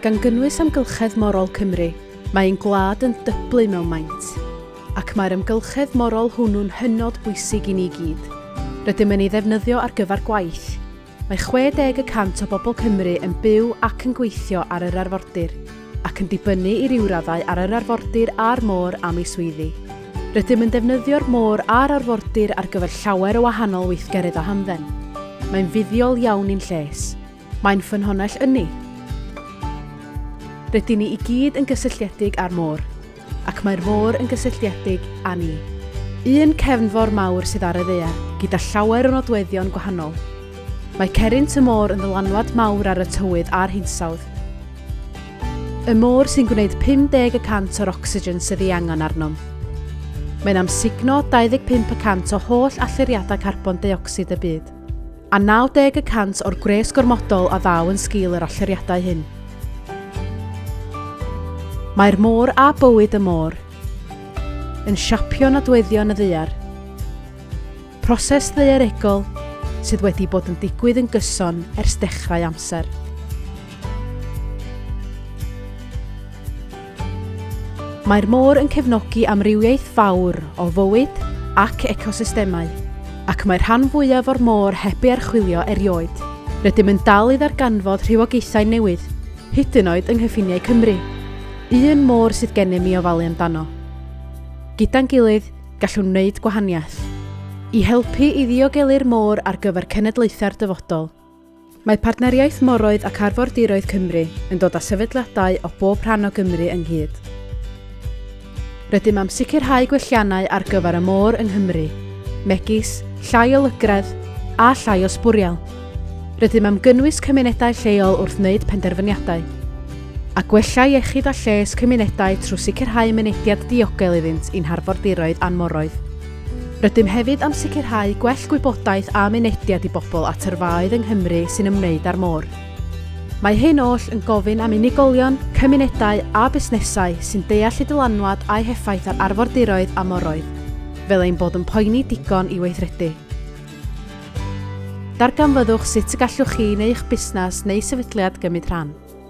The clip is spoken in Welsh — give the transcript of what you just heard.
Gan gynnwys amgylchedd morol Cymru, mae ein gwlad yn dyblu mewn maint. Ac mae'r amgylchedd morol hwnnw'n hynod bwysig i ni gyd. Rydym yn ei ddefnyddio ar gyfer gwaith, Mae 60 y cant o bobl Cymru yn byw ac yn gweithio ar yr arfordir, ac yn dibynnu i ryw raddau ar yr arfordir a'r môr am eu swyddi. Rydym yn defnyddio'r môr a'r arfordir ar gyfer llawer o wahanol weithgareddau hamdden. Mae'n fuddiol iawn i'n lles. Mae'n ffynhonnell ynni. Rydyn ni i gyd yn gysylltiedig â'r môr. Ac mae'r môr yn gysylltiedig â ni. Un cefnfor mawr sydd ar y ddaear, gyda llawer o nodweddion gwahanol. Mae Cerrynt y Môr yn ddylanwad mawr ar y tywydd a'r hinsawdd. Y môr sy'n gwneud 50 y cant o'r ocsigen sydd ei angen arnom. Mae'n amsugno 25 y cant o holl allyriadau carbon deuocsid y byd. a 90 y cant o'r gwres gormodol a ddaw yn sgil yr allyriadau hyn. Mae'r môr a bywyd y môr yn siapio nodweddion y ddaear. Proses ddaearegol sydd wedi bod yn digwydd yn gyson ers dechrau amser. Mae'r môr yn cefnogi amrywiaeth fawr o fywyd ac ecosystemau, ac mae'r rhan fwyaf o'r môr heb ei archwilio erioed. Rydym yn dal i ddarganfod rhywogaethau newydd, hyd yn oed yng nghyffiniau Cymru, un môr sydd gennym i ofalu amdano. Gyda'n gilydd, gallwn wneud gwahaniaeth. I helpu i ddiogelu'r môr ar gyfer cenedlaethau'r dyfodol. Mae Partneriaeth Moroedd ac Arfordiroedd Cymru yn dod â sefydliadau o bob rhan o Gymru ynghyd. Rydym am sicrhau gwelliannau ar gyfer y môr yng Nghymru, megis llai o lygredd a llai o sbwriel. Rydym am gynnwys cymunedau lleol wrth wneud penderfyniadau, a gwella iechyd a lles cymunedau trwy sicrhau mynediad diogel iddynt i'n harfordiroedd a'n moroedd. Rydym hefyd am sicrhau gwell gwybodaeth a mynediad i bobl at yrfaoedd yng Nghymru sy'n ymwneud â'r môr. Mae hyn oll yn gofyn am unigolion, cymunedau a busnesau sy'n deall y dylanwad a'i heffaith ar arfordiroedd a moroedd, fel ein bod yn poeni digon i weithredu. Darganfyddwch sut y gallwch chi neu eich busnes neu sefydliad gymryd rhan.